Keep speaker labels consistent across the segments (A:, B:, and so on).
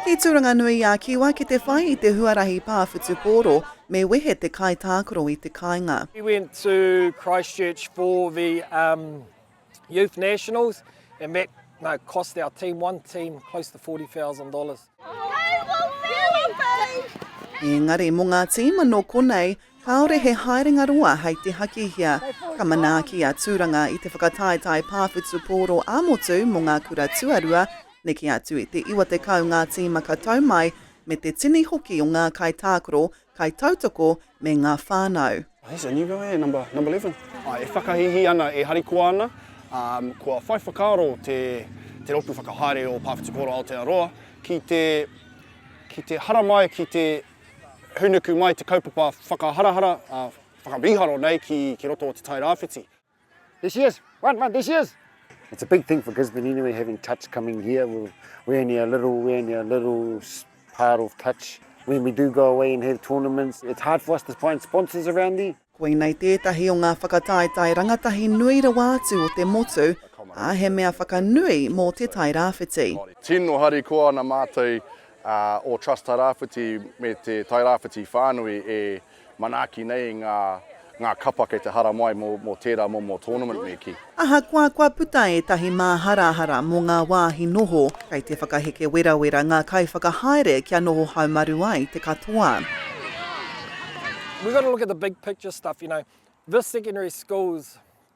A: I Tūranganui a Kiwa ki te whai i te huarahi pā whutupōro me wehe te kaitākaro i te kāinga. He went to
B: Christchurch for the um, youth nationals and that no, cost our team, one team, close to $40,000.
A: Engari mo nga tīma no konei, kāore he haerenga roa hei te hakihia. Ka manaaki a Tūranga i te whakataetae pāwhitu pōro ā-motu mo nga kura tuarua, neke atu i te 90 nga tīma ka tau mai, me te tini hoki o nga kaitākaro Kaitautoko me ngā whānau. Oh here's a new guy eh,
C: number, number eleven. Ah, e whakahīhī ana, e harikoa ana, um, kua whai whakaaro te, te rōpū whakahaere o Pāwhitipouro Aotearoa ki te, ki te haramai, ki te hūnuku mai te kaupapa whakaharahara, uh, whakamīharo nei ki, ki roto o Te Tai Rāwhiti. There she is.
D: Run, run, there she is. It's a big thing for Gisborne anyway, having touch coming here. We're, we're only a little, we're only a little part of touch. When we do go away and have tournaments, it's hard for us to find sponsors around there. Koinei tētahi
A: o ngā whakataetae rangatahi nui rawa atu o te motu, ā, he mea whakanui mō Te Tai Rāwhiti. Tino harikoa
E: ana mātou o Trust Tairāwhiti me te Tairāwhiti whānui e Manaaki nei ngā ngā kapa kei te haramai mō mō tērā momo tournament me kī. Ahakoa kua puta
A: ētahi māharahara mō ngā wāhi noho, kei te whakaheke werawera ngā kaiwhakahaere kia noho haumaru ai te katoa.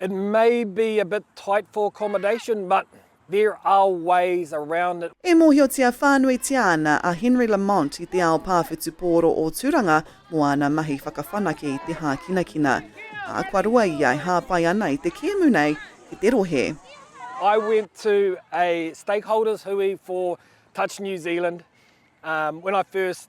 B: It may be a bit tight for accommodation but there are ways around it. E mōhiotia whānuitia
A: ana a Henry Lamont i te ao pā whutupōro o Tūranga mō āna mahi whakawhanake i te hākinakina, ā, kua roa ia e hāpai ana i te kēmu nei ki te rohe. I went
B: to a stakeholders hui for Touch New Zealand when I first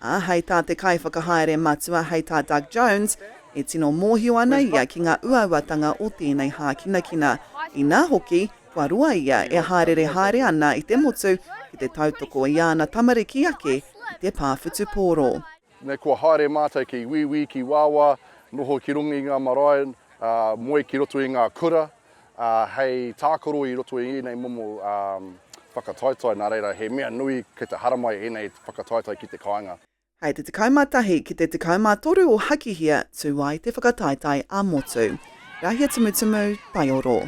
A: Ā, hei tā te Kaiwhakahaere Matua, hei tā Doug Jones, e tino mōhio ana ia ki ngā uauatanga o tēnei hākinakina, inā hoki, kua roa ia e hāereere haere ana i te motu ki te tautoko i āna tamariki ake i te pā whutupōro. Nei kua haere
E: mātou ki wīwī, ki wāwā, noho ki runga i ngā marae, ā, moe ki roto i ngā kura. hei tākaro i roto i ēnei momo whakataetae, nā reira, he mea nui kei te haramai ēnei whakataetae ki te kāinga. Hei te 11
A: ki te 13 o Hakihia tū ai te whakataetae ā-motu. Rahia Tumutumu, Taioro.